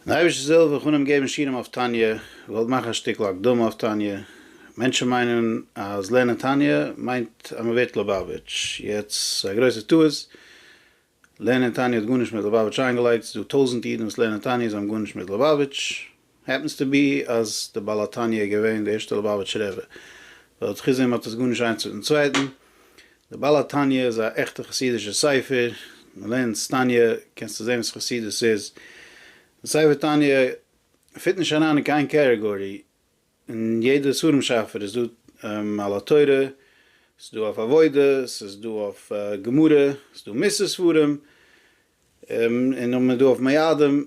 די אייבערשטער זאל ווען כ'אנהייב געבן שיעורים אויף תניא, כ'וועל מאכן א שטיקל הקדמה אויף תניא, מענטשן מיינען אז לערנען תניא מיינט אז מען ווערט ליובאוויטש, יעצט ס'איז א גרויסע טעות, לערנען תניא האט גארנישט מיט ליובאוויטש איינגעלייגט, ס'איז דא טויזענט אידן וואס לערנען תניא זיי האבן גארנישט מיט ליובאוויטש, העפענס טו בי אז די בעל התניא איז געווען די ערשטע ליבאוויטש רבי, ווייל האט חוץ דעם האט עס גארנישט איינס מיטן צווייטן, די בעל התניא איז א עכטע חסידישע ספר, מען לערנט תניא קענסטו זען וואס חסידות איז, די ספר תניא פיט נישט אריין אין קיין קערעגארי, אין יעדע ספרים שפר איז דא על התורה, ס'איז דא אויף עבודה, ס'איז דא אויף גמרא, ס'איז דא מוסר ספרים, און נאכדעם איז דא אויף מיידים,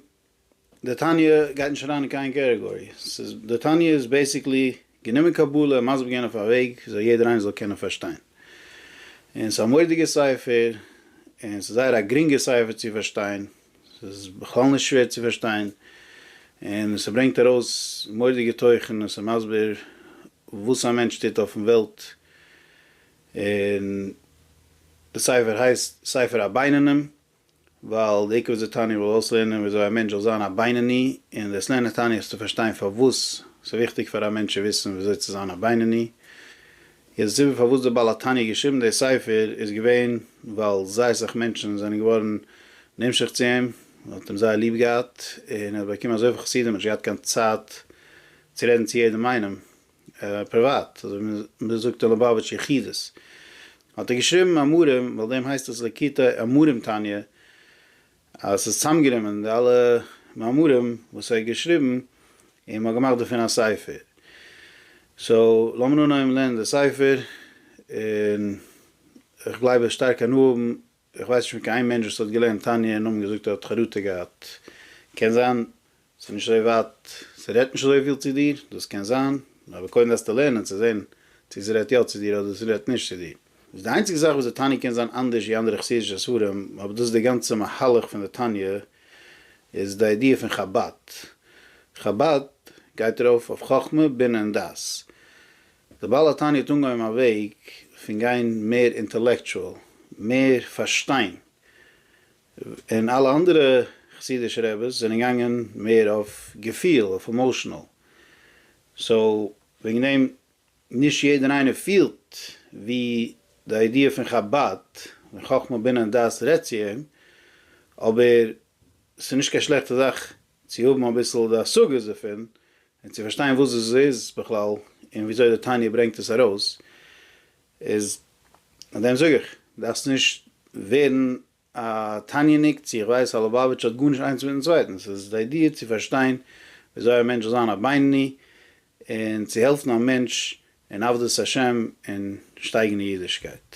די תניא גייט נישט אריין אין קיין קעטעגארי, ס'איז, די תניא איז בעיסיקלי גענומען קבלה און מסביר געווען אויף א וועג וויאזוי יעדער איינער זאל קענען פארשטיין. און ס'איז א מורא'דיגע ספר, און ס'איז זייער א גרינגע ספר צו פארשטיין, ס'איז בכלל נישט שווער צו פארשטיין, און ס'ברענגט ארויס מורא'דיגע תוכן, און ס'איז מסביר וואס א מענטש טוט אויפן וועלט, און די ספר הייסט ספר הבינונים. ווייל די עיקר וואס די תניא וויל אויסלערנען איז וויאזוי א מענטש זאל זיין א בינוני, און דאס לערנען תניא איז צו פארשטיין פארוואס ס'איז וויכטיג פאר א מענטש צו וויסן וויאזוי צו זיין א בינוני. יעצט די סיבה פארוואס דער בעל התניא האט געשריבן די ספר איז געווען ווייל זייער סאך מענטשן זענען געווארן נמשך צו אים, מען האט אים זייער ליב געהאט, און ער האט באקומען אזויפיל חסידים, ער האט נישט געהאט קיין צייט צו רעדן צו יעדעם איינעם, פריוואט, אזוי ווי מען זאגט אין ליובאוויטש יחידות, האט ער געשריבן אמרים, ווייל דעם הייסט עס ליקוטי אמרים תניא, אז עס איז צוזאמגענומען די אלע מאמרים וואס ער האט געשריבן, און מען האט געמאכט דערפון א ספר. סאו, לאמיר אנהייבן לערנען די ספר, און איך גלייב ער וועט שטארק הנאה האבן איך ווייס נישט פון קיין איין מענטש וואס האט געלערנט תניא און נאכדעם געזאגט ער האט חרטה געהאט. קען זיין ס'איז נישט אזוי ווייט, ס'רעדט נישט אזויפיל צו דיר, דאס קען זיין, אבער קודם דארפסטו לערנען צו זען צו ס'רעדט יא צו דיר אדער ס'רעדט נישט צו דיר. איז די איינציגע זאך וואס די תניא קען זיין אנדערש ווי אנדערע חסידישע ספרים, אבער דאס איז די גאנצע מהלך פון די תניא, איז די איידיע פון חבד. חבד גייט ארויף אויף חכמה, בינה און דעת. די בעל התניא האט אנגעהויבן א וועג פון גיין מער אינטעלעקטשועל, מער פארשטיין, און אלע אנדערע חסידישע רעבעס זענען געגאנגען מער אויף געפיל, אויף עמאושענעל, סאו וועגן דעם נישט יעדער איינער פילט ווי די איידיע פון חבד און חכמה בינה און דעת רעדט צו אים, אבער ס'איז נישט קיין שלעכטע זאך צו האבן אביסל די השגות דערפון, און צו פארשטיין וואס דאס איז בכלל, און וויאזוי די תניא ברענגט עס ארויס, איז מיט דעם זאג איך, דארפסט נישט ווערן א תניא'ניק, צו איך ווייס א לובאוויטש האט גארנישט איינס מיטן צווייטן, ס'איז די איידיע צו פארשטיין וויאזוי א מענטש זאל זיין א בינוני, און צו העלפן א מענטש אין עבדות השם און שטייגן אין אידישקייט.